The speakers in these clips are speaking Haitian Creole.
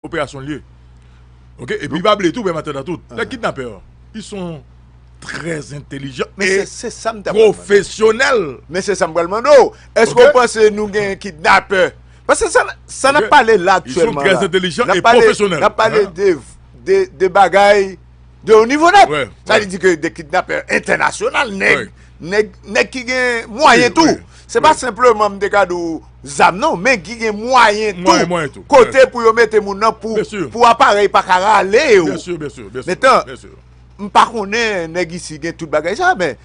Operasyon li ye ok epi pa bliye tou bèm atandan tout nèg kidnapè yo yo son trè entelijan e pwofesyonèl men se sam pral mande w èske w panse nou gen kidnapè paske sa nap pale la aktyèlman la yo son trè entelijan e pwofesyonèl nap pale de bagay de yon nivo nèt sa vle di ke de kidnapè entènasyonal nèg nèg ki gen mwayen tou se pa senpleman m te ka di w zam non men ki gen mwayen tou kote pou yo mete moun nan pou aparèy pa ka rale yo metan m pa konnen nèg isi gen tout bagay sa men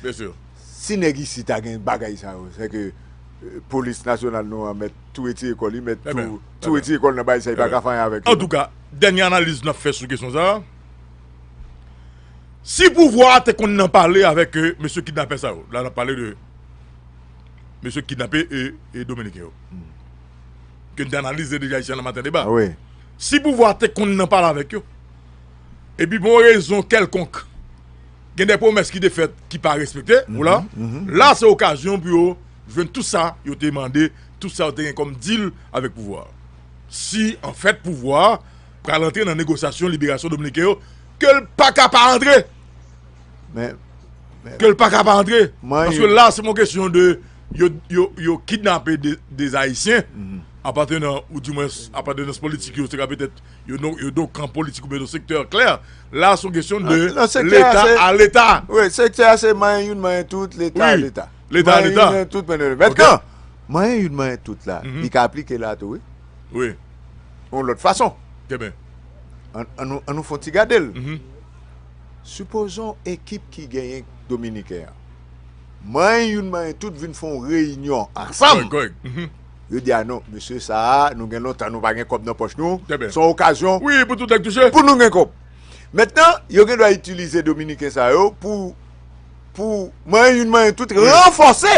si nèg isi ta gen bagay sa yo se ke polis nasyonal nou an mèt tou eti ekòl li mèt tou eti ekòl nan bay sa yi pa ka fanyan avèk an tou ka dènye analiz nan fè sou kesyon sa si pouvwa te konn nan pale avèk mesye kidnapè sa yo la nan pale de mesye ki kidnape e dominiken yo ke n te analize deja isi a nan maten deba si pouvwa a te konn nan pale avèk yo epi pou yon rezon kèlkonk gen de pwomès ki te fèt ki pa respekte oula la se okazyon pou yo jwenn tout sa yo te mande tout sa yo te gen kòm dil avèk pouvwa a si an fèt pouvwa a pral antre nan negosyasyon liberasyon dominiken yo ke l pa ka pa antre Men, men. Ke l pa ka pa antre. Mwen. Paske la se mwen kesyon de yo kidnape de Ayisyen. Apatenan ou di mwen apatenan politik yo se ka petèt yo do kan politik ou ben do sektè klè. La se mwen kesyon de leta a leta. Wi, sektè a se mwen yon mwen tout leta a leta. Leta a leta. Mwen yon mwen tout mwen yon mwen tout. Mwen yon yon mwen tout la. Li ka aplike la tou wi. Wi. Yon lòt fason. Te ben. An nou fon ti gade l. Sipozon ekip ki genyen dominiken an manyen youn manyen tout vin fè yon reyinyon ansanm, yo di a non mesye sa a nou gen lontan nou pa gen kòb nan pòch nou, se yon okazyon pou nou gen kòb. Mentnan yo gen dwa itilize dominiken sa yo pou manyen youn manyen tout ranfòse,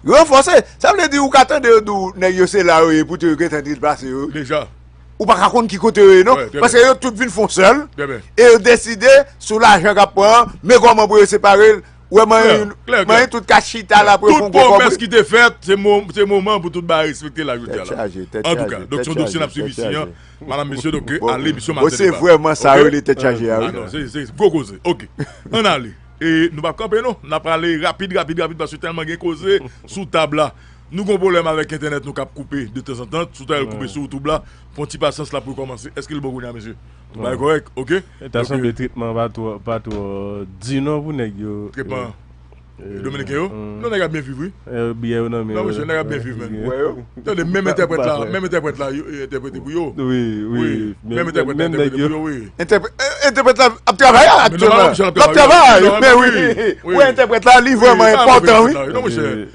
ranfòse, sa vle di ou ka tande yo di w nèg yo se la yo ye poutèt yo gen tan deplase yo ou pa ka konn ki kote yo ye non, paske yo tout vin fon sèl, e yo deside sou lajan kap pran an, men koman pou yo separe l, ou wè manyen yon, manyen tout ka chita la pou yo fon gwo kòb. Tout pwomès ki te fèt, se moman pou tout bagay respekte la jodi a la. An tou ka, donk son dosye nap swiv isi an, madam mesye, donk ale emisyon maten deba. Bon se vreman sa yo li te chaje a wi. Se, se, gwo koze, ok, an ale, e nou pap kanpe non, nap ale rapid, rapid, rapid, paske tèlman gen koze sou tab la. Nou gon pwoblèm avèk entènèt nou kap koupe de tanzantan sou tan el koupe sou youtube la pwan ti pasyans lap rekomanse eske li bon kounya mesye tout bagay korèk ok donk ta sanble tretman an pa twò di non pou nèg yo tretman an dominiken yo non nèg ap byen viv wi biyè yo nan men yo non mesye nèg ap byen viv menn wè yo tande menm entèprèt la menm entèprèt la entèprete pou yo wi wi menm entèprèt la entèprete pou yo wi entèprèt la ap travay aktyèlman lap travay men wi wè entèprèt la li vrèman enpòtan wi non mesye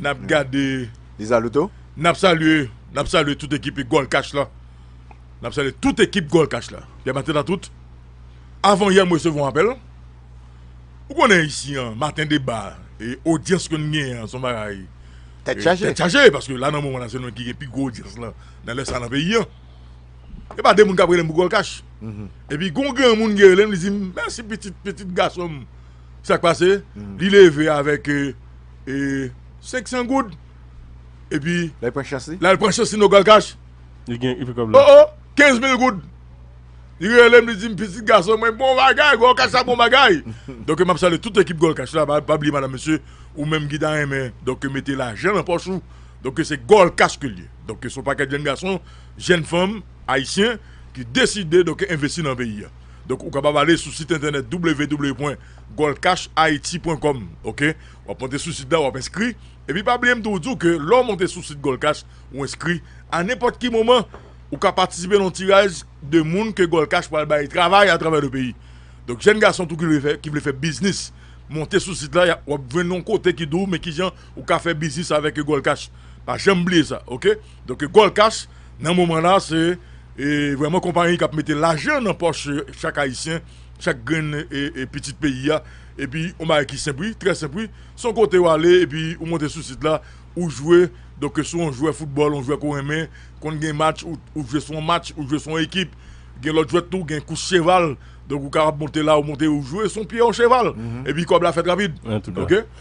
Nap gade Lizalouto Nap salye Nap salye tout ekipi gòl kach la Nap salye tout ekip gòl kach la Pierre Martin a tout Avan yè m resevwa yon apèl Ou konnen isi an maten deba E odyans ke n genyen an son bagay Tèt chaje Tèt chaje paske la nan moman la se nou ki gen pi gwo odyans lan Nan lè sa nan peyi an E pa de moun k ap rele m pou gòl kach Epi gon granmoun ki rele m li di m mèsi pitit pitit gason m Sa k pase, li leve avèk 500 goud, epi la l pran chans li, la l pran chans li nan Galkach, li gen epi kòb la, o o, 15000 goud, li rele m, li di m, pitit gason mwen, bon bagay, Galkach sa bon bagay, donk m ap salye tout ekip Galkach la, pa bliye madam mesye, ou menm ki ta renmen, donk mete lajan nan pòch ou, donk se Galkach ke li ye, donk se yon pakèt jenn gason, jenn fanm, ayisyen, ki deside donk envesti nan peyi a. Donk ou kapab ale sou sit entènèt www.goldcashhaiti.com ok wap monte sou sit la wap enskri epi pa bliye m tou di w ke lè w monte sou sit gold cash ou enskri a nenpòt ki moman ou ka patisipe nan yon tiraj de moun ke gold cash pral bay travay atravè le peyi donk jèn gason tou ki vle fè biznis monte sou sit la wap jwenn yon kote ki di w men kijan Ou ka fè biznis avèk Eugol Cash. Pa janm bliye sa ok. Donk Eugol Cash nan moman la se vrèman konpayi k ap mete lajan nan pòch chak ayisyen, chak grenn pitit peyi a. Epi yon bagay ki senp wi, trè senp wi. Se yon kote ou ale epi ou monte sou sit la, ou jwe, donk si w yon jwè foutbòl, yon jwè ke w renmen, konn gen match, ou jwe sou yon match, ou jwe sou yon ekip. Gen lòt jwèt tou, gen kous cheval, donk ou kapab monte la, ou monte ou jwe sou pye yon cheval. Epi kòb la fèt rapid ok.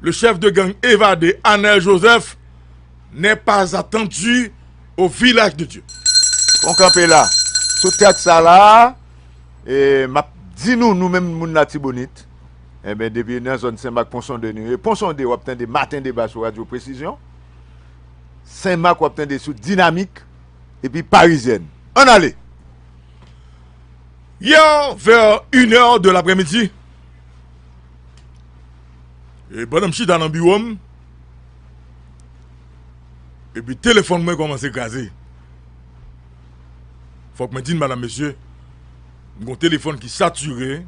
Le chef de gang evade Anel Joseph n'est pas attendu au village de Dieu. Fon kanpe la. Sou tèks sa la a, map di nou nou menm moun latibonit, enben depi nan zòn Senmak Ponsonde nou ye. Ponsonde wap tande maten deba sou radyo presizyon. Senmak wap tande sou dinamik epi parizyèn. Ann ale! Hier vers une heure de l'après-midi, E pandan m chita nan biwo m, epi telefòn mwen kòmanse kraze. Fòk mwen di n madam mesye, m gen yon telefòn ki satire,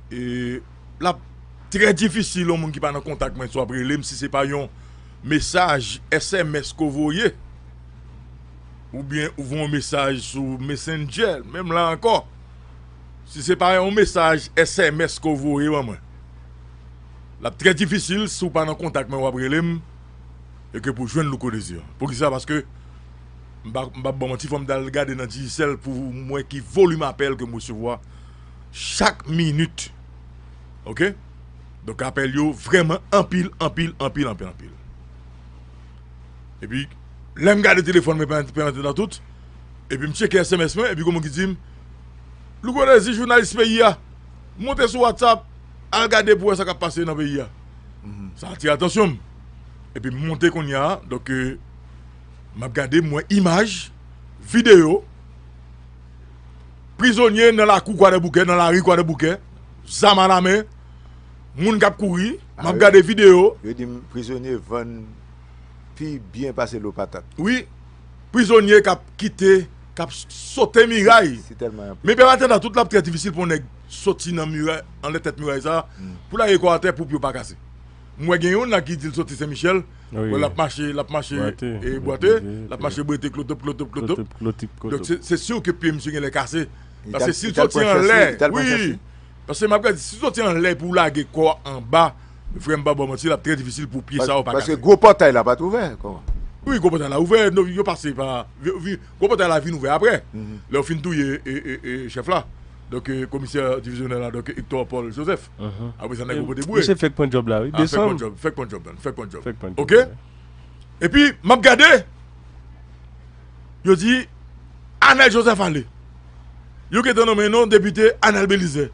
e l ap trè difisil yon moun ki pa nan kontak mwen swa ap rele m si se pa yon mesaj sms ke w voye, oubyen ou voye yon mesaj sou mesendjè, menm la ankò. Si se pa yon mesaj sms ke w voye ban mwen, l ap trè difisil si w pa nan kontak mwen w ap rele m e ke pou jwenn Louko Désir. Poukisa? Paske m pa m pap ba w manti fò m t al gade nan Digicel pou m wè ki volim apèl ke m resevwa chak minit ok. Donk apèl yo vrèman anpil anpil anpil anpil anpil. Epi lè m gade telefòn mwen pandan tout epi m tcheke sms mwen epi gen moun ki di m. Louko Dezi jounalis peyi a monte sou WhatsApp al gade pou wè sa kap pase nan peyi a. Sa atire atansyon m. Epi m monte kounya a donk m ap gade m wè imaj, videyo prizonye nan lakou kwadèboukè nan lari kwadèboukè zam alamen moun kap kouri m ap gade videyo. Yo di m prizonye vann pi byen pase lo patat. Wi prizonye kap kite. kap sote miray men peyi annatandan tout lap trè difisil pou yon nèg soti nan miray anlè tèt miray sa pou lage kò atè pou pye w pa kase m wè gen yon la ki di l soti sen michèl wè lap mache lap mache e bwate lap mache bwete klotop klotop klotop se siw ke pye misye gen lè kase paske si l soti anlè wi paske m ap gad si l soti anlè pou lage kò anba Frèm pa baw manti lap trè difisil pou pye sa yo pa kase. Paske gwo pòtay la pat ouvè kòman. Wi gwo pòtay la ouvè non yo pase pa gwo pòtay la vin ouvè aprè lè yo fin touye chèf la donk komisè divizyonè la donk Hector Paul Joseph aprè sa nèg yo pote boure. Misye fèk pran djòb la wi desanm. Fèk pran djòb fèk pran djòb ok epi map gade yo di Anel Joseph ale yo gentan nonmen yon depite Anel Belizaire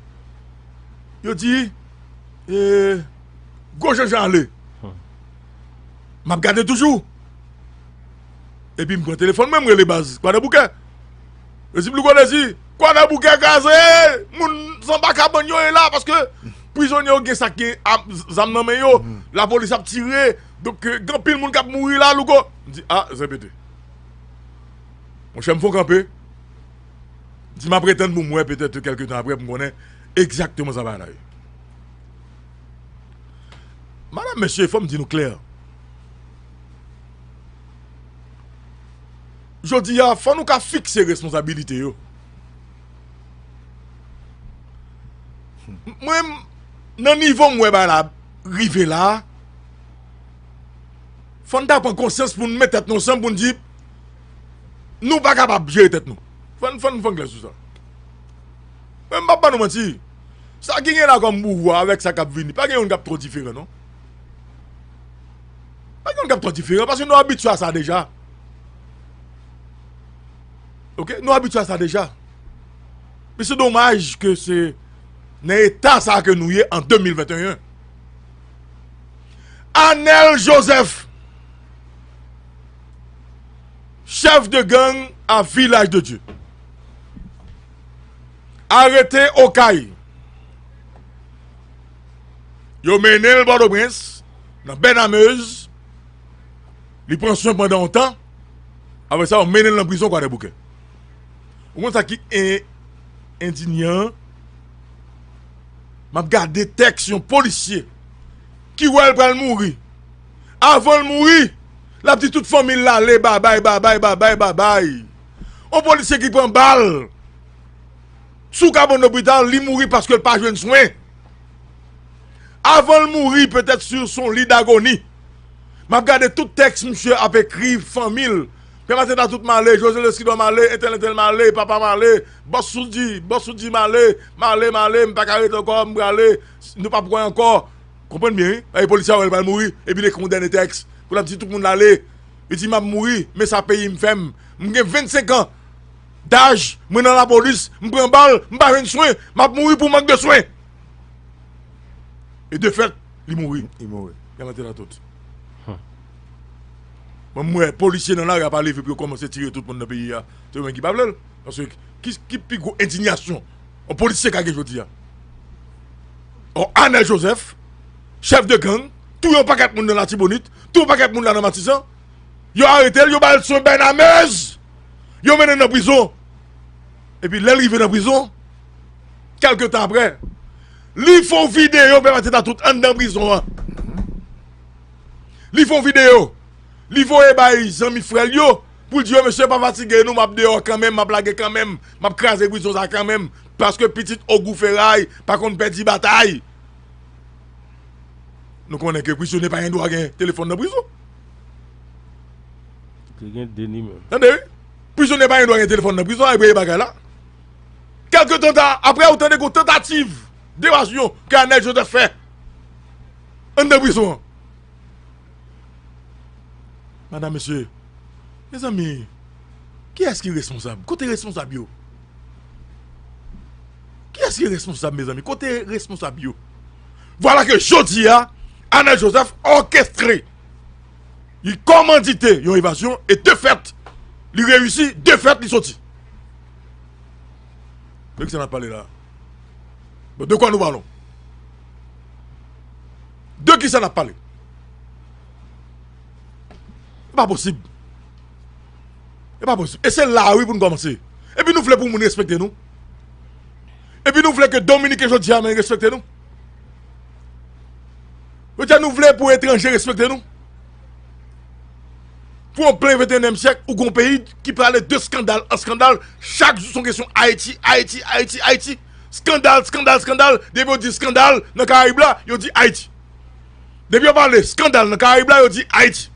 yo di. E gwo je jale. M ap gade toujou. Epi m pran telefon mwen m rele baz. Kwa de bouke. Yo di plougo de di. Kwa de bouke kaze. Moun zanba kaban yo e la. Paske prizon yo gen sak gen zam nan men yo. La polis ap tire. Dok gen pil moun kap mouri la lougo. M di a zen pete. Mwen chen m fon kanpe. Di map retann pou m wè petèt ke kèlke tan aprè pou m konnen egzakteman sa bagay la ye. Madam, mesye, fò m di nou klè. Jodi a, fò nou ka fikse responsabilite yo. Mwen, nan nivo m wè bagay la rive la, fò n ta pran konsyans pou n met tèt nou ansanm pou n di, Nou pa kapab jere tèt nou. Fòn fòn fòn klè sou sa. Mwen m pap ba nou manti. Sa ki gen la kòm pouvwa avèk sa kap vini. Pa gen youn kap twò diferan non. Pa gen youn kap twò diferan. Paske nou abitye a sa deja. Ok nou abitye a sa deja. Men se domaj ke se nan eta sa ke nou ye an 2021. Anel Joseph. Chèf de gang a Vilaj de Dye arete Okay. Yo mennen l Pòtoprens nan Bènamez. Li pran swen pandan yon tan. Apre sa, yo mennen l nan prizon Kwadèboukè. Ou konn sa ki endinyan? M ap gade tèks yon polisye ki wè l pral mouri. Avan l mouri! Lap di tout fanmil la ale babay babay babay babay on polisye ki pran bal sou kabann lopital li mouri paskel pa jwenn swen avanl mouri petèt sur son lit dagoni map gade tout tèks misye ap ekri fanmil pè mateta tout male jose lesidò male entèl entèl male papa male bòs soudi bòs soudi male male male mpaka ret ankò mprale nou pap wè ankò. Konprann byen wi, paske polis la wè l pral mouri epi l ekri yon dènye tèks pou l ap di tout moun ale. Li di m ap mouri men sa peyi m fè m. M gen 25 an daj, mwen nan lapolis, m pran bal, m pa jwenn swen, m ap mouri pou mank de swen. E de fèt li mouri. Yal antere l tout. Mwen m wè polisye nan lari a pa leve pou yo kòmanse tire tout moun nan peyi a. Se yo menm ki pa vle l. Paske ki pi gwo endinyasyon? On polisye ka gen jodi a. On Anel Joseph, chèf de gang, touye yon pakèt moun nan Latibonit, touye yon pakèt moun la nan Matisan, yo arete l, yo ba l swen bènamèz, yo mennen l nan prizon. Epi lè l rive nan prizon, kèlke tan aprè, li fè yon videyo pè Mateta tout anndan prizon an. Li fè yon videyo, li voye bay zanmi frè l yo, Pou l di yo mesye pa fatige nou map deyò kanmenm map lage kanmenm map kraze prizon sa kanmenm paske pitit ogou feray pa konn pèdi batay nou konnen ke prizonye pa gen dwa gen telefòn nan prizon tande wi prizonye pa gen dwa gen telefòn nan prizon aprè bagay la kelke tan ta aprè ou tande gon tantativ devasyon ke anèl joseph fè anndan prizon an. Madam mesye Mezanmi kiyès ki responsab kote responsab yo Kiyès ki responsab mezanmi kote responsab yo Vwala ke jodi a Anèl Joseph òkestre li kòmandite yon evasyon e de fèt li reyisi de fèt li soti De kisa nap pale la Bon de kwa nou palon De ki sa n ap pale? E pa posib. E pa posib. E se la a wi pou nou kòmanse. E pi nou vle pou moun respekte nou? E pi nou vle ke Dominiken jodi a men respekte nou? Ou diyan nou vle pou etranje respekte nou? Pou an plen 21 èm syèk ou gon peyi ki prale de skandal an skandal chak jou son kesyon Ayiti, Ayiti, Ayiti, Ayiti. Skandal, skandal, skandal, depi yo di skandal nan karayib la, yo di Ayiti. Depi yo pale skandal nan karayib la, yo di Ayiti.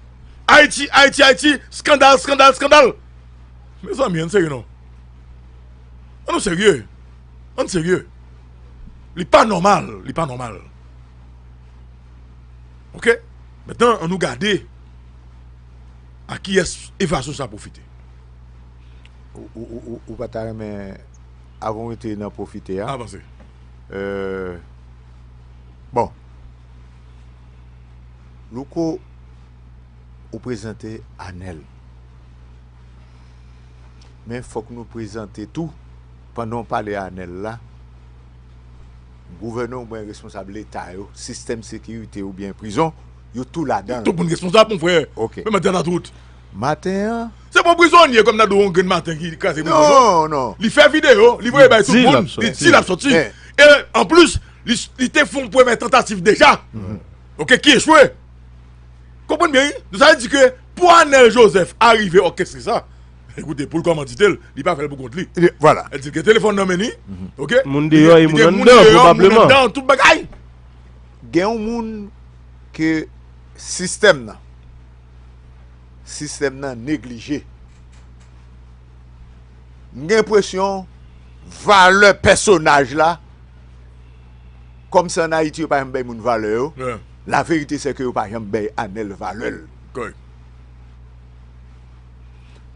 Ayiti, Ayiti, Ayiti, skandal, skandal, skandal. Mezanmi, an serye non. An nou serye. An nou serye. Li pa nòmal, li pa nòmal. Ok, metan an nou gade a kiyès evasyon sa pwofite. Ou pa ta renmen... Avan w rete nan pwofite a. Avanse. Bon. Louko, ou prezante Anèl. Men fòk nou prezante tou, pandan w pale Anèl la, gouvènè oubyen responsab leta yo, sistèm sekirite oubyen prizon, yo tou ladan l. Tout moun responsab, monfrè. Ok. Menm andedan tout. Maten an. Se bon prizonye kòm nan do yon grenn maten ki kraze prizon non. Non, non. Li fè videyo, li voye bay tout moun, li di l ap soti. E anplis, li te fè yon premyè tantativ deja, ok, ki echwe. Konprann byen wi. Donk sa vle di ke pou Anèl Jozèf arive òkestre sa, ekoute, pou l kòmandite l, li pa fè l pou kont li. Vwala. Li gen telefòn nan men li, ok. Moun deyò e moun anndan pwobableman. Moun deyò, moun anndan, tout bagay. Gen yon moun ke sistèm nan. sistèm nan neglije. M gen enpresyon valè pèsonaj la, kòm se an Ayiti yo pa janm bay moun valè yo, la verite se ke yo pa janm bay Anèl valè l.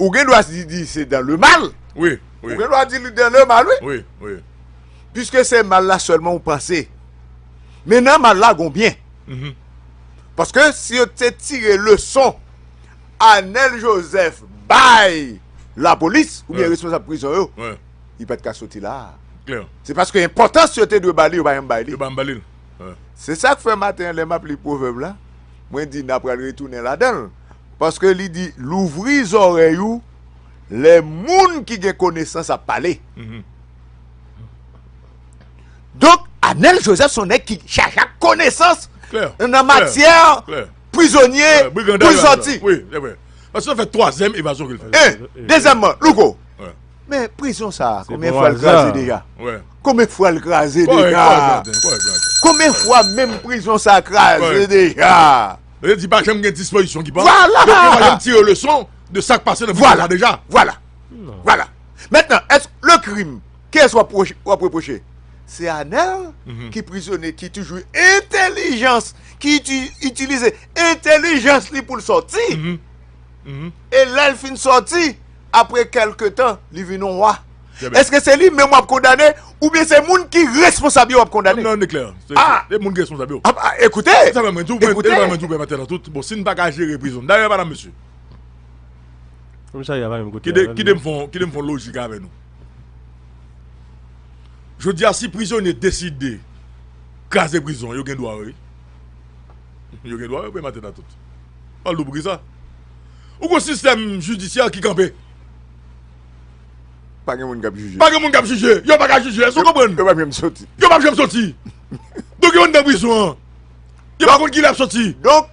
Ou gen dwa di li se dan le mal. Ou gen dwa di li dan le mal wi. Piske se mal la sèlman ou panse. Men nan mal la gon byen. Paske si yo te tire leson Anel Joseph bay la polis ou byen responsab prizon yo, li pat ka soti la. Se paske enpòtans yo te dwe ba li, yo pa janm bay li. Se sak fè maten an lè map li pwovèb la, mwen di na pral retounen ladan l. Paske li di louvri zòrèy ou lè moun ki gen konesans ap pale. Donk, Anèl Jozèf son nèg ki chaje ak konesans nan matyè prizonye pou l sòti. Wi, se vre. Paske sa fè twazèm evazyon ke l fè. E, dezyèmman, Louko, men prizon sa a, konbyen fwa l kraze deja? Konbyen fwa l kraze deja? Konbyen fwa menm prizon sa a kraze deja? Yo di pa janm gen dispozisyon ki pran. Vwala! Donk, yo pa janm tire leson de sa k pase nan prizon sa a deja. Vwala! Vwala! Vwala! Mètnan, èske le krim? Kiyès wap wap reproche? Se Anel ki prizone ki toujou entelijans ki itilize entelijans li poul sòti e lèl fin sòti apre kelke tan li vin yon wa. Eske se li menm wap kondane oubyen se moun ki responsab yo wap kondane? Nan e klè a se moun ki responsab yo. Apa ekoute ekoute. Se sa mwen di w e se sa mwen di w pè matè nan tout bon si n paka jere prizon dayè madam mesye kidem fon lojik avè nou. Jodi a si prizonye deside kraze prizon yo gen dwa wi. Yo gen dwa wi prema tèt a tout. Pal dou poukisa? Ou gon sistèm jidisyè ki kanpe. Pa gen moun kap jije. Pa gen moun kap jije. Yo pa ka jije. Eske w konprann? Yo pap janm soti. Yo pap janm soti. Donk yo anndan prizon an. Yo pa konn kilè yap soti. Donk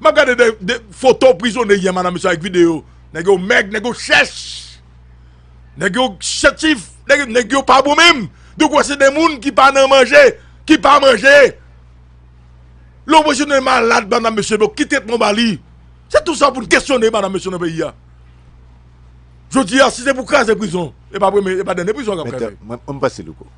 Map gade de foto prizone yè madame sa ak video. Nèg yo mèg, nèg yo chèch. Nèg yo chetif, nèg yo pa bon menm. Donk wè se de moun ki pa nan manje, ki pa manje. Lè w wè se de malad madame mesye donk ki tretman w ba li. Se tout sa pou n kesyone madame mesye nan peyi a. Jodi a si se pou kraze prizon, e pa premye, e pa dènye prizon kap kraze. Mwen pase louko.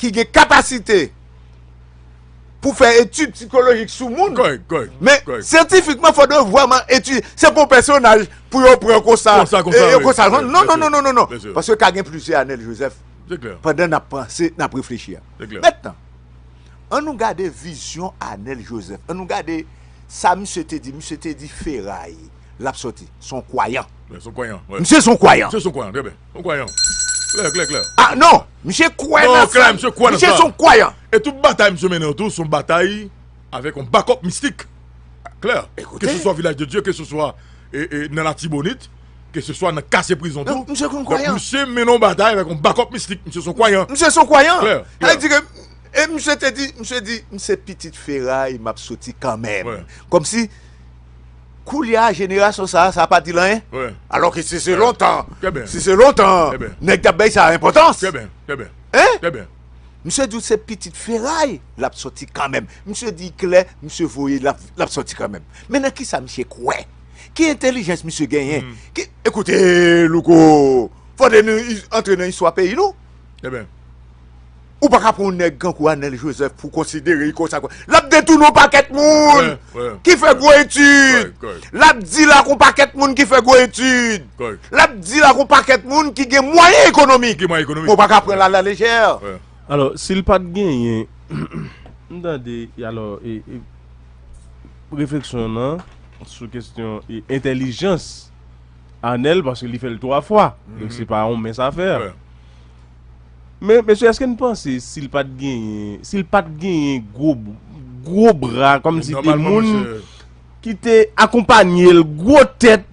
ki gen kapasite pou fè etid psikolojik sou moun. Kòrèk, kòrèk. Men, syantifikman, fò dwe vwèman etid. Se pou pèsonaj pou yo pran konsa. Konsa, konsa, wè. Konsa, konsa. Non, non, non, non, non, non. Paske ka gen plizyè Anèl Jozèf. Se klè. Pandan n ap panse, n ap reflechi a. Se klè. Mètnan, an nou gade vizyon Anèl Jozèf. An nou gade sa misye te di. Misye te di feray l ap sòti. S on kwayan. S on kwayan, wè. Misye s on kwayan. Misye s on kwayan, trè byen. Yon kwayan. Klè, klè, klè. A, non! Misye kwè nan sa. Non, klè, misye kwè nan sa. Misye son kwayan. E tout batay misye mennen yo tou son batay avèk yon bakòp mistik. Klè. Ekoute. Ke se swa Vilaj de Dye, ke se swa nan Latibonit, ke se swa nan kase prizon tou. Donk, misye konn kwayan. Donk, misye mennen yon batay avèk yon bakòp mistik. Misye son kwayan. Misye son kwayan. Klè, klè. Sa di ke, e misye te di, misye di, m se pitit feray, m ap soti kanmenm. Wè. Kòmsi. Koulya jenerasyon sa sa pa dil anyen alò ke si se lontan si se lontan nèg tap bay sa enpòtans trè byen trè byen hein trè byen misye di w se pitit feray lap sòti kanmenm misye di klè misye voye lap sòti kanmenm men nan kisa misye kwè ki entelijans misye genyen ki ekoute louko fòde nou antre nan istwa peyi nou trè byen. Ou pa ka pran yon nèg kankou Anèl Jozèf pou w konsidere li konsa kon. L ap detounen yon pakèt moun ki fè gwo etid. L ap dil ak yon pakèt moun ki fè gwo etid. L ap dil ak yon pakèt moun ki gen mwayen ekonomik. Men w pa ka pran l alalejè. Alò, si l pa t genyen, m tande, alò, refleksyon w nan sou kesyon entèlijans Anèl, paske li fè l twa fwa. Donk se pa yon mens afè. Men mesye eske n panse si l pat genyen, si l pat genyen gwo gwo bra kòm si te moun ki te akonpanye l gwo tèt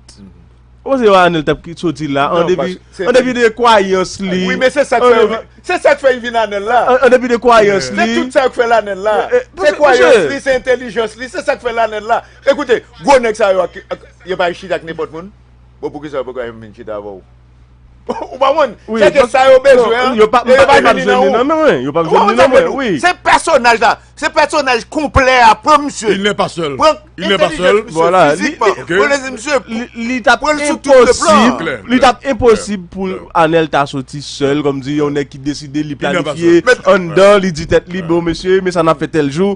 ou panse yo Anel tap ki soti la an depi an depi de kwayans li Wi men se sa k fè yo vin se sa k fè yo vin Anel la an depi de kwayans li se tout sa yo k fè l Anel la se kwayans li se entelijans li se sa k fè l Anel la ekoute gwo nèg sa yo yo pa chita ak nenpòt moun bon poukisa yo poko al vin chita avè w Ou pa mwen, se ke sa yo bezwen an, yo pa jwenni nan ou. Yo pa jwenni nan mwen, oui. Se pèsonaj la, se pèsonaj konplè a, pran misye. Il nè pa sèl. Pran entelijens misye, fizikman. Pran lèzè misye, pran lèzè tout le plan. Li tap imposib pou Anel ta soti sèl, kòm di yon nèk ki deside li planifye, an dan li di tèt li, bon mesye, men sa nan fè tèl jou,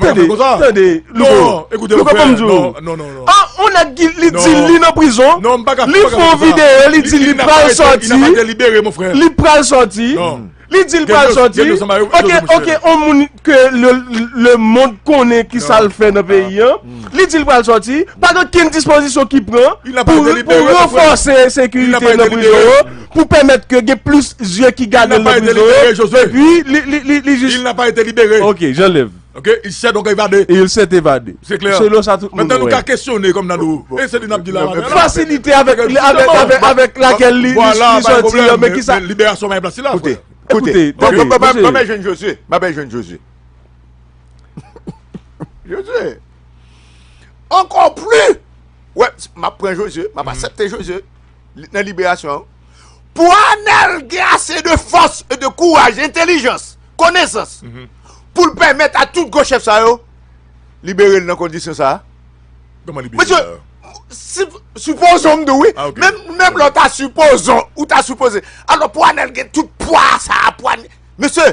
Tande, tande, louko, louko banm di ou, an on nèg ki li di li nan prizon, li fè yon videyo li di li pral sòti, li pral sòti, li di li pral sòti, ok, ok, on moun ke le mond konnen ki sa l fè nan peyi an, li di li pral sòti, pa gen okenn dispozisyon ki pran pou ranfòse sekirite nan prizon yo. pou pèmèt ke gen plis zye ki gade l nan prizon yo, epi li jis. Il n'a pas été libéré. Ok, j'enlève. Ok, il s'est donc évadé. Il s'est évadé. Se klè. Selon sa tout moun wè. Mètè nou ka kesyone kòm nan nou. E se li n'ap di la. Fasilite avèk, avèk lakèl li soti yo, men ki sa. Liberasyon pa gen plas li la. Koute, koute. Mwen mwen jwenn Josué. Mwen mwen jwenn Josué. Josué. Ankò pli. Wè, mwen pran Josué. Mwen mwen asepte Josué. nan liberasyon an, pou Anèl gen ase de fòs e de kouraj, entelijans, konesans, pou l pèmèt a tout gwo chèf sa yo, libere l nan kondisyon sa a? Kòman libere l la? Mesye, sipozon m di w wi, menm lè w ta sipozon, ou ta sipoze, alò pou Anèl gen tout pwa sa a, pou Anèl, mesye!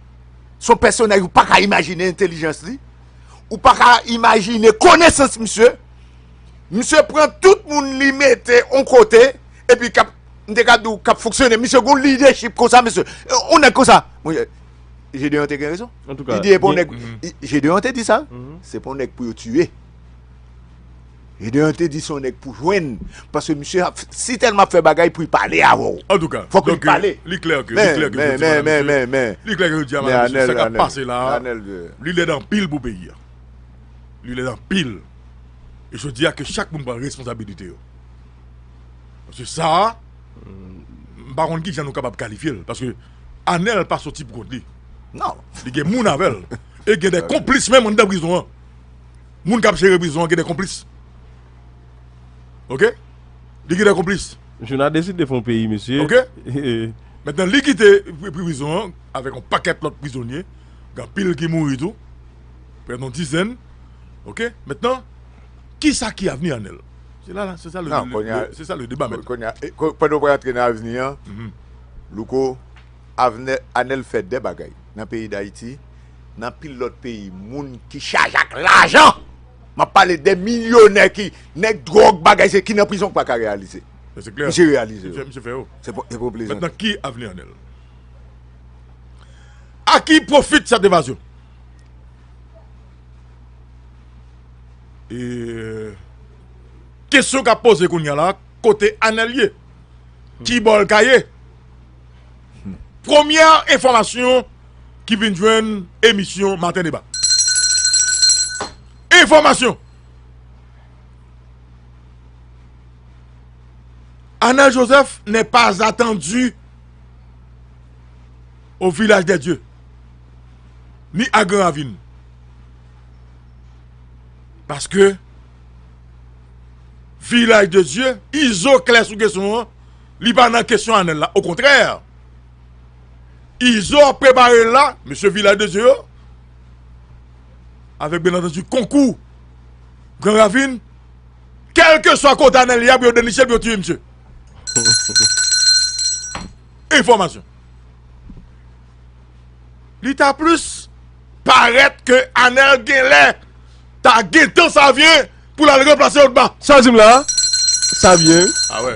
Son pèsonèj ou pa ka imajine entelijans li, ou pa ka imajine konesans misye. Misye pran tout moun li mete on kote, epi kap, m te ka di w, kap fonksyone. Misye gon lidèchip konsa mesye. On nèg konsa, mon chè, Gedeon te gen rezon. Li di e pou on nèg, Gedeon te di sa, se pou on nèg pou yo tiye. Gedeon te di son nèg pou jwenn paske misye ap si tèlman ap fè bagay pou y pale avè w. Antouka, fòk li pale. Li klè ke Men, men, men, men, men, men. Li klè ke yo di a Men, madame mesye, sa anèl, kap anèl, pase la a, anèl de. li lèd anpil pou peyi a. Li lèd anpil. E jodi a ke chak moun pran responsabilite yo. Paske sa a, m pa konn ki jan nou kapab kalifye l paske anèl pa soti pou kont li. Non. Li gen moun avè l. E gen de konplis menm anndan prizon an. Moun kap jere prizon an gen de konplis ok li gen de konplis. Misye nan deside fon peyi misye. Ok Mentnan li kite prizon an avek yon paket lot prizonye gen anpil ki mouri tou prè de yon dizèn ok mentnan kisa ki avni Anel se la se sa se sa le deba mentnan. Konnya pandan ou pa rantre nan avni an Louko Anel fè de bagay nan peyi dayiti Nan pil lòt peyi, moun ki chaje ak lajan, m ap pale de milyonè ki nèg dwòg bagay se ki nan prizon ki pa ka reyalize. Misye reyalize yo. Se pou yo plezante. Mètnan ki avni Anèl? A ki pwofit sèt evazyon? E kesyon k ap poze kounya la, kote Anèl ye? Ki bò l ka ye? Premyè enfòmasyon ki vin jwenn emisyon Maten Deba. Enfòmasyon! Anèl Joseph nè pa atandu o Vilaj dè Dye, ni a Gran Ravin. Paske, Vilaj dè Dye, izo klè sou kesyon an. Li pa nan kesyon Anel la okontrè Izo ap prepare l la mesye vilaj de dye yo avèk byen antandi konkou gran ravin kèlkeswa kote Anel ye ap yo deniche l pou yo tiye misye enfòmasyon li ta plis parèt ke Anel genlè ta gentan savyen pou l al ranplase odma sa w di m la a savyen a wè.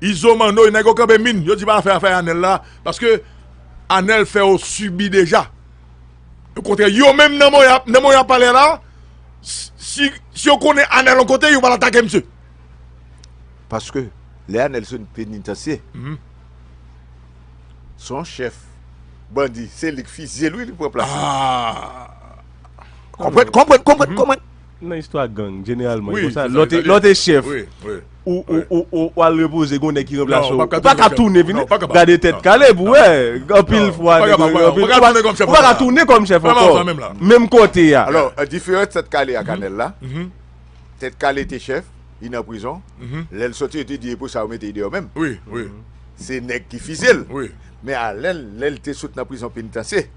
Izo manoy nèg yo kanpe min yo di pa fè afè anel la paske anel fè yo sibi deja o kontrè yo menm nan moman yap pale la si yo konnen anel yon kote yo pral atake misye paske lè anel sot nan penitansye se yon chèf bandi se lik fizye l wi li pran plas li konprann konprann konprann. Nan istwa gang, jeneralman, e konsa, lò te, lò te chèf, ou, ou, ou, ou, ou al repoze, gen yon nèg ki ranplase w, ou pa ka tounen vin, gade tèt kale pou wè, anpil fwa, ou pa ka tounen, ou pa ka tounen kòm chèf ankò, ou pa ka tounen kòm chèf ankò, menm kote a. Alò, an diferans tèt kale ak anèl la, tèt kale te chèf, li nan prizon, lè l sòti yo te di e pou sa yo mete li deyò menm? Se nèg ki fize l, men anèl, lè l te sot nan prizon penitansye,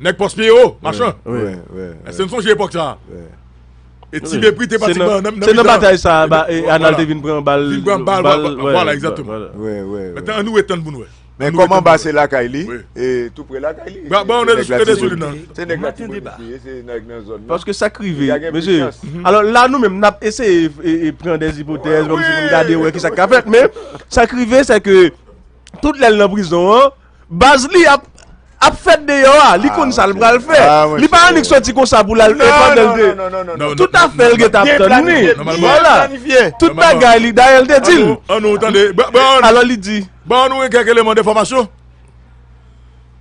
Nèg pòs pye yo, machan. Èske n sonje epòk sa a? E ti Bepri te pati nan mitan. Se nan batay sa a Anal te vin pran bal. Vin pran bal, vwala, egzatteman. Mètnan annou etann pou n wè. Men kòm anba se lakay li, e tou pre lakay li. Ba an de sou, e de sou li nan. Se nèg la ti Bepri ye, se nèg nan zòn nan. Paske sa k rive, mesye, alò la nou menm n ap eseye pran dèz ipotèz, kòm si pou n gade wè ki sa k ka fèt, men sa k rive se ke tout lè l nan prizon an, Baz li ap ap fèt deyò a, li konn sa l pral fè. Li pa annik soti konsa pou l al fè pandan l te. Tout afè l gen ta ap tann li. Vwala. Tout bagay li dayè l te di l. An nou tande. Alò li di. Ban nou yon kèk eleman defòmasyon.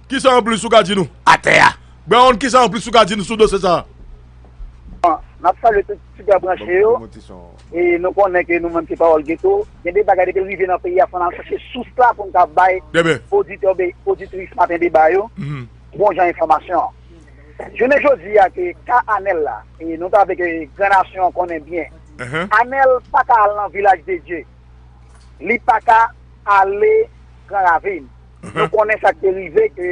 Ki sa anplis ou ka di nou? Atè a. Bawon ki sa anplis ou ka di nou sou dosye sa a? Bon, n ap salye tout fidèl branche yo. E nou konnen ke nou menm se pawòl geto. Gen de bagay depi l rive nan peyi a fò n al chache sous la pou n ka bay oditè oubyen oditris Maten deba yo bon jan enfòmasyon. Jounen jodi a ke ka Anèl la e nou ta vle ke gran nasyon an konnen byen. Anèl pa ka al nan Vilaj de Dye. Li pa ka ale Gran Ravin. Nou konnen sa k te rive ke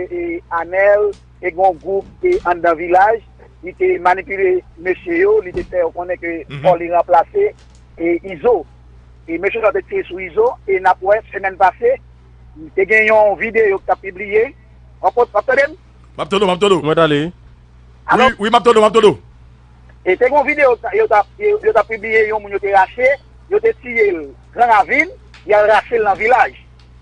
Anèl. te gen yon gwoup ki te anndan vilaj, li te manipile mesye yo, li te fè yo konnen ke fò li ranplase Izo. E mesye sa yo te tire sou Izo, e n ap wè semèn pase, te gen yon videyo ki t ap pibliye, w ap tande m? M ap tande w, m ap tande w. Mwen tande. Wi, wi, m ap tande w, m ap tande w. E te gen yon videyo yo t ap, yo t ap pibliye yon moun yo te rache, yo te tiye l gran ravin, y al rache l nan vilaj.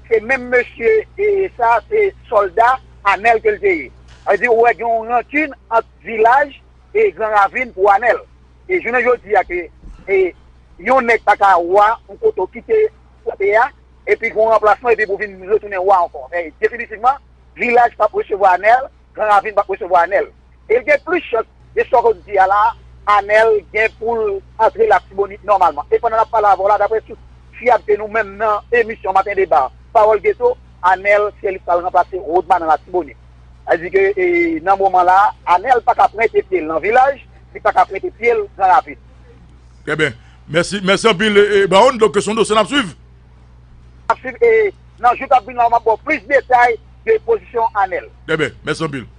Se menm mesye sa, se sòlda. Anel ke l te ye. Sa vle di ou wè gen yon rankin ant Vilaj e Gran Ravin pou Anel. E jounen jodi a ke yon nèg pa ka wa yon kote ou kite kote a epi gen yon ranplasman epi pou vin retounen wa ankò. Men definitivman Vilaj pap resevwa Anel, Gran Ravin pap resevwa Anel. e l gen plis chans, de sa w di a la, Anèl gen pou l antre Latibonit nòmalman. E pandan n ap pale avè w la, daprè sous fiyab ke nou menm nan emisyon Maten Deba, Pawòl Geto, Anèl se li k pral ranplase Rodma nan Latibonit. Sa vle di ke nan moman la, Anèl pa ka pwente pye l nan Vilaj, li pa ka pwente pye l Gran Ravin. Trè byen. Mèsi. Mèsi anpil Baronne. Donk se yon dosye n ap swiv. N ap swiv e nan jou k ap vini la, m ap ba w plis detay de pozisyon Anèl. Trè byen. Mèsi anpil.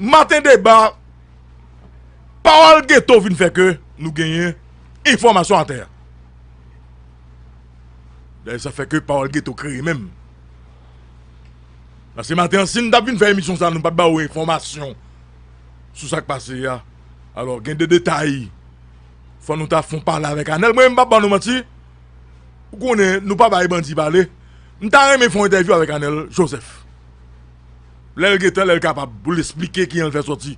Maten deba, pawòl geto vin fè ke nou genyen enfòmasyon atè a. Dayè sa fè ke pawòl geto kreye menm. Pase maten an, si n ta vin fè emisyon sa nou pa t ba ou enfòmasyon sou sa k pase a. Alò gen de detay fò nou ta fon pale avèk Anèl. Mwen m pa ban nou manti, ou konnen nou pa bay bandi pale. M ta renmen fon entèvyou avèk Anèl Joseph. Lè l gen tan, lè l kapab pou l esplike kijan l fè sòti.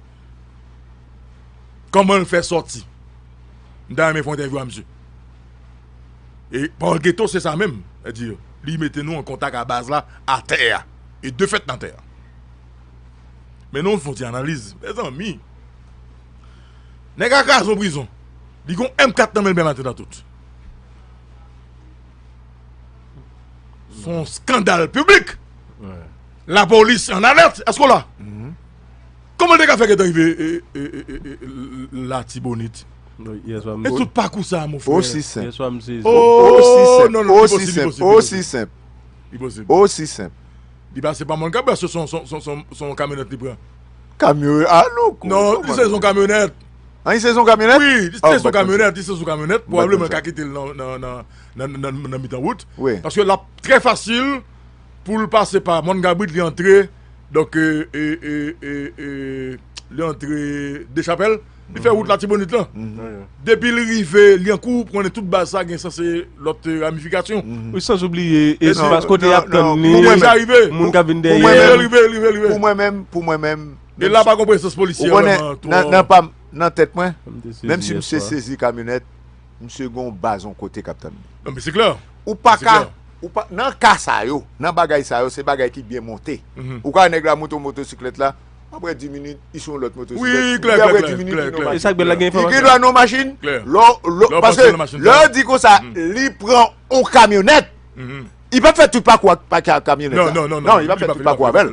Kòman l fè sòti. M ta renmen fè yon entèvyou a msye. E Paul Guetto se sa menm. Sètadi, li mete nou an kontak a baz la, a tè a. E de fèt nan tè a. Men nou fè yon ti analiz. Mezanmi! Nèg a kraze yon prizon. Li gen yon M4 nan men l menm atentatout. Son skandal publik. La polis an alèt. Esko la? Koman te ka fè ke te rive la tibonit? E tout pakou sa a mou fè. Osi senp. Osi senp. Osi senp. Osi senp. Li pa se pa moun kap bè se son kamyonet li pran. Kamyonet? A nou kou. Non, li se son kamyonet. An li se son kamyonèt? Wi, li se son kamyonèt, li se son kamyonèt, pwobableman yo ka kite l nan mitan wout, paske l ap trè fasil pou l pase pa mòn kabrit li antre donk li antre dechapèl li fè wout latibonit lan depi l rive lyankou ou konnen tout baz sa gen sa se lòt ramifikasyon wi san oubliye espas kote y ap tann li moun k ap vin dèyè l pou mwen menm E la pa gon presans polisye yo nan to. Nan pam nan tèt mwen. Menm si misye sezi kamyonèt. Misye gon baz on kote kap tann li. Non men se klè. Ou paka. Nan ka sa yo. Nan bagay sa yo. Se bagay ki byen monte. Ou ka wè nèg la monte on motosiklèt la. Aprè 10 minit. Li sou on lòt motosiklèt. Wi klè klè klè klè klè. E sak bèl la gen enfòmasyon. Li gen dwa nan on machin. Klè. Lò lò. Paske lè ou di konsa. Li pran on kamyonèt. Li pap fè tout pakou ak kamyonèt sa. Non non non. Non li pap fè tout pakou avèl.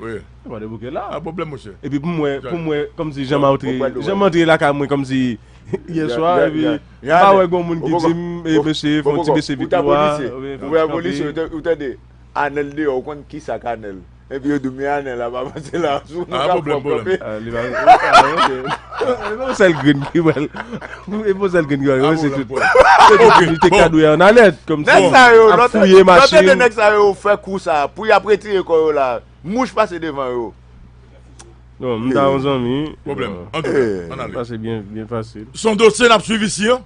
Wi. Yo pa debouke la. An pwoblèm mouche. Epi pou mwen, pou mwen kòmsi janm antre, janm antre lakay mwen kòmsi yè swa epi mpa wè gon moun ki dim e mesye fon ti bese vit nou a. Ou wè apolis yo ou tande Anel deyò ou konn kisa ak Anel epi yo diw men Anel ap avanse la. An pwoblèm pwoblèm. Li pa. Li pa yon sèl grenn ki wèl. Mwen e poze l grenn grann yo se tout. Ok bon. Te kadou ya an alèt kom si. Nèg sa yo lòt fouye machin. Lòt de nèg sa yo fè kou sa pou y ap retire kò yo la mouch pase devan yo. Bon m ta yon zanmi wi. Pwoblèm. Antouka an ale. Pase byen byen fasil. S on dosye n ap swiv isi an.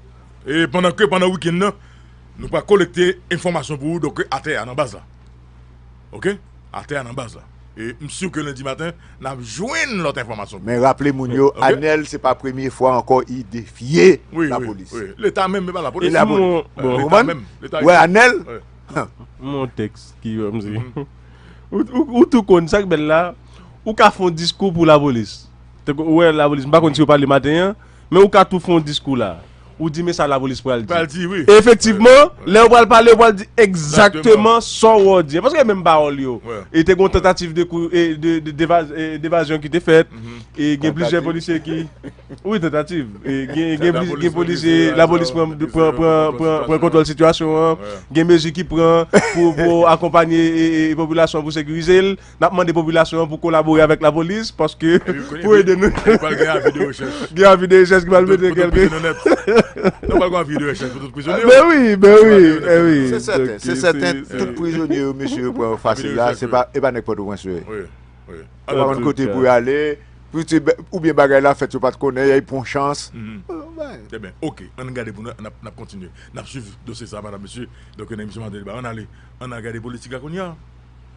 E pandan ke pandan wikenn nan nou pral kolekte enfòmasyon pou ou donk atè a nan baz la. ok atè a nan baz la e m sur ke lundi maten nap jwenn lòt enfòmasyon Men raple moun yo Anel se pa premye fwa ankò i defye lapolis e la polis ou konprann ou wè Anel ou tou konn sak bèl la ou ka fon diskou pou lapolis ou wè lapolis m pa konn si yo pale maten an men ou ka tou fon diskou la. Ou di men sa lapolis pral di. Pral di wi. Efektivman, lè yo pral pale yo pral di egzakteman sa w wè yo di. Paske e menm pawòl yo. E te gen yon tantativ de kou de evazyon ki te fèt. E gen plizyè polisye ki Wi tantativ. E gen polisye lapolis pran pran kontwòl sitiyasyon an. Gen mezi ki pran pou akonpanye popilasyon an pou sekirize l. Nap mande popilasyon an pou kolabore avèk lapolis paske pou ede nou. Epi pral gen avi de rechèch. Gen avi de rechèch ki pral mete kèlke. Pou tout prizonè nèt. Non pral gen avi de rechèch pou tout prizonye yo. Ben wi, ben wi, eh wi. Se sèten, se sèten tout prizonye yo mesye yo pran yo fasil la, se pa e pa nèg pòtoprens yo ye. Wi, wi. Yo pa konn kote pou yo ale, oubyen bagay la fèt yo pat konnen, y a y pran yon chans. Trè byen, ok, an n gade pou nou, nap kontinye, nap swiv dosye sa a madam mesye, donk nan emisyon maten deba, an n ale, an n al gade politik la kounye a.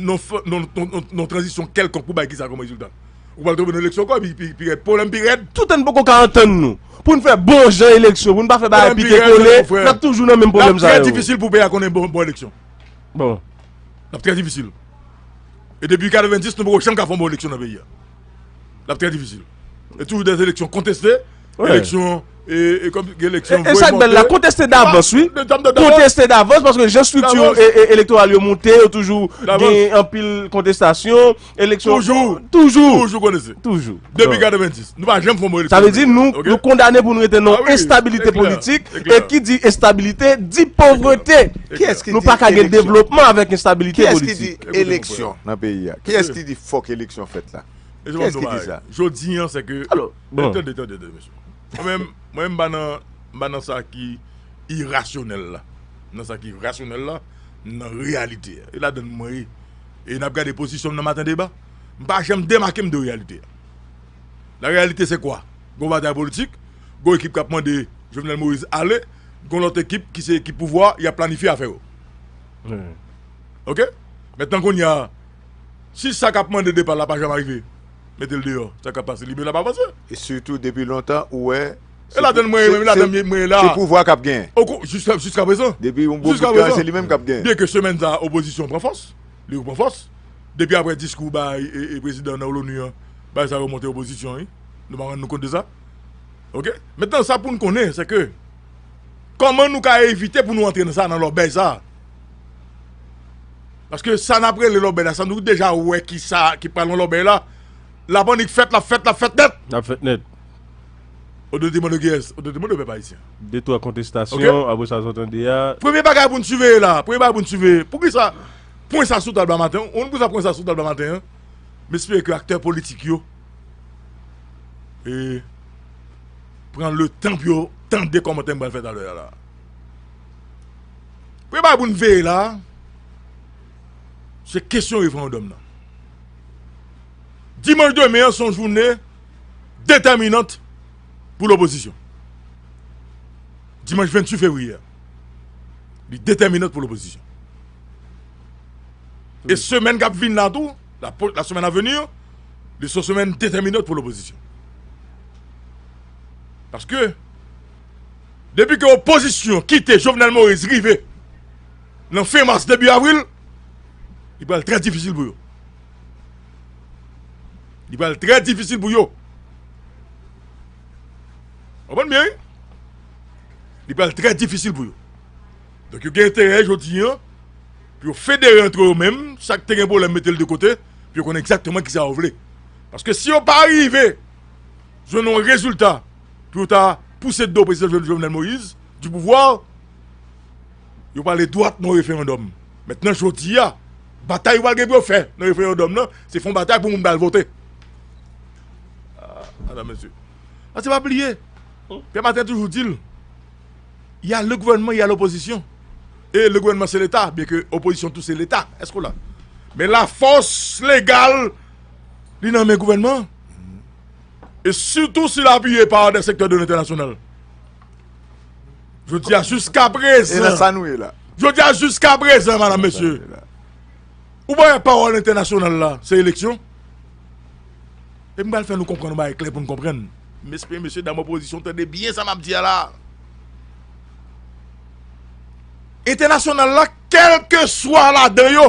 nan tranzisyon kèlkonk pou bay ki sa kòm rezilta. Ou pral tonbe nan eleksyon ankò epi pi rèd, pwoblèm pi rèd. Tout an n poko ka antann nou pou n fè bon jan eleksyon, pou n pa fè bagay pike kole, n ap toujou nan menm pwoblèm sa yo. L ap trè difisil pou peyi a konnen bon eleksyon. L ap trè difisil. E depi 90 nou poko janm ka fè yon bon eleksyon nan peyi a. Lap trè difisil. E toujou dè eleksyon konteste, eleksyon e kom gen eleksyon vwe monte. E sak bel la konteste davans wi. Konteste davans paske jen strikti elektoral yo monte yo toujou gen anpil kontestasyon. Toujou. Toujou. Toujou konteste. Toujou. Depi 90. Nou pa jen fon mwen eleksyon. Sa ve di nou nou kondane pou nou rete nou estabilite politik. E ki di estabilite di povrete. Ki eski di eleksyon. Nou pa kage devlopman avek estabilite politik. Ki eski di eleksyon nan peyi ya. Ki eski di. Fòk eleksyon fèt la. Kiyès ki di sa? Jodi an se ke Tande tande tande mesye Mwen menm mwen m pa nan m pa nan sa ki irasyonèl la M nan sa ki rasyonèl la M nan reyalite a E ladann mwen ye E n ap gade pozisyon m nan Maten deba M pa janm demake m de reyalite a La reyalite se kwa? Gon batay politik Gon ekip k ap mande Jovenel Moïse ale Gon lòt ekip ki se ekip pouvwa y ap planifye afè yo Ok Mètnan kounye a Si sa kap mande depal la pa janm arive metel deyò sa kap pase libela pa vanse. E sitou depi lontan ou wè E ladann mwen ye menm e ladann mwen ye la. Se pouvwa kap genyen. Jiska prezan. Depi yon bon bout tan se li menm kap genyen. Byenke semèn sa opozisyon pran fòs, li repran fòs. Depi aprè diskou bay e prezidan nan LONU an, bagay sa remonte opozisyon wi. Nou pa rann nou kont de sa. Ok. Mentnan sa poun konnen se ke. Kòman nou ka evite pou nou antre nan sa nan lòbèy sa? Paske sa nap rele lòbèy la sa nou deja wè ki sa ki pral nan lòbèy la Lap annik fèt lap fèt lap fèt nèt Lap fèt nèt Ou dwe demandew kiyès ou dwe demandew pèp ayisyen De twa kontestasyon apre sa sot ande a Premye bagay pou n siveye la premye bagay pou n siveye poukisa pwen sa sou tab la maten an ou konn poukisa pwen sa sou tab la maten an M espere ke aktè politik yo e. pran letan pou yo tande kòmantè m pral fè talè a la. Premye bagay pou n veye la, se kesyon referandòm nan. Dimanch demen an se yon joune detèminant pou lopozisyon. Dimanch 28 fevriye a, li detèminant pou lopozisyon. E semen kap vin la tou, la semen avenir, li son semen detèminant pou lopozisyon. Paske, depi ke opozisyon kite Jovenel Moïse rive nan fen mas debi avril, li pral trè difisil pou yo. Li pral trè difisil pou yo. Konprann byen wi. Li pral trè difisil pou yo. Donk yo gen enterè jodi an pou yo federe antre yo menm, sak te gen pwoblèm mete l de kote, pou yo konnen egzakteman ki sa yo vle. Paske si yo pa rive jwenn yon rezilta pou yo ta pouse do prezidan Jovenel Moïse du pouvoir, yo pale dwat nan referandòm. Mètnan jodi a, batay yo pral gen pou yo fè nan referandòm nan, se fè yon batay pou moun pral vote. Madan mesye, a se pa bliye, Pyè Matè toujou di l, y a le gouvènman, y a lopozisyon. E le gouvènman se leta, byenke opozisyon tou se leta. Èske w la? Men lafòs legal. li nan men gouvènman an. E sitou si l apiye pa de sektè de entènasyonal. Jodi a jiska prezan. E nan sa nou ye la. Jodi a jiska prezan, madame, mesye. Ou pa yon pawòl entènasyonal la, se eleksyon. E m bal fè nou konprann, m bay kle pou nou konprann. M espere mesye dam opozisyon tande byen sa m ap di a la. Entènasyonal la, kelke swa la de yo,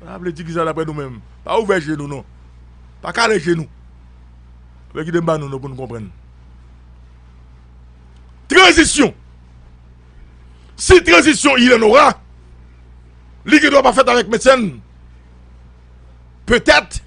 Sa vle di kisa daprè nou menm? Pa ouvè je nou non. Pa kale je nou. Fè kite m ba nou non pou nou konprann. Tranzisyon. Si tranzisyon il en aura, li gen dwa pa fèt avèk Mecène. Petèt.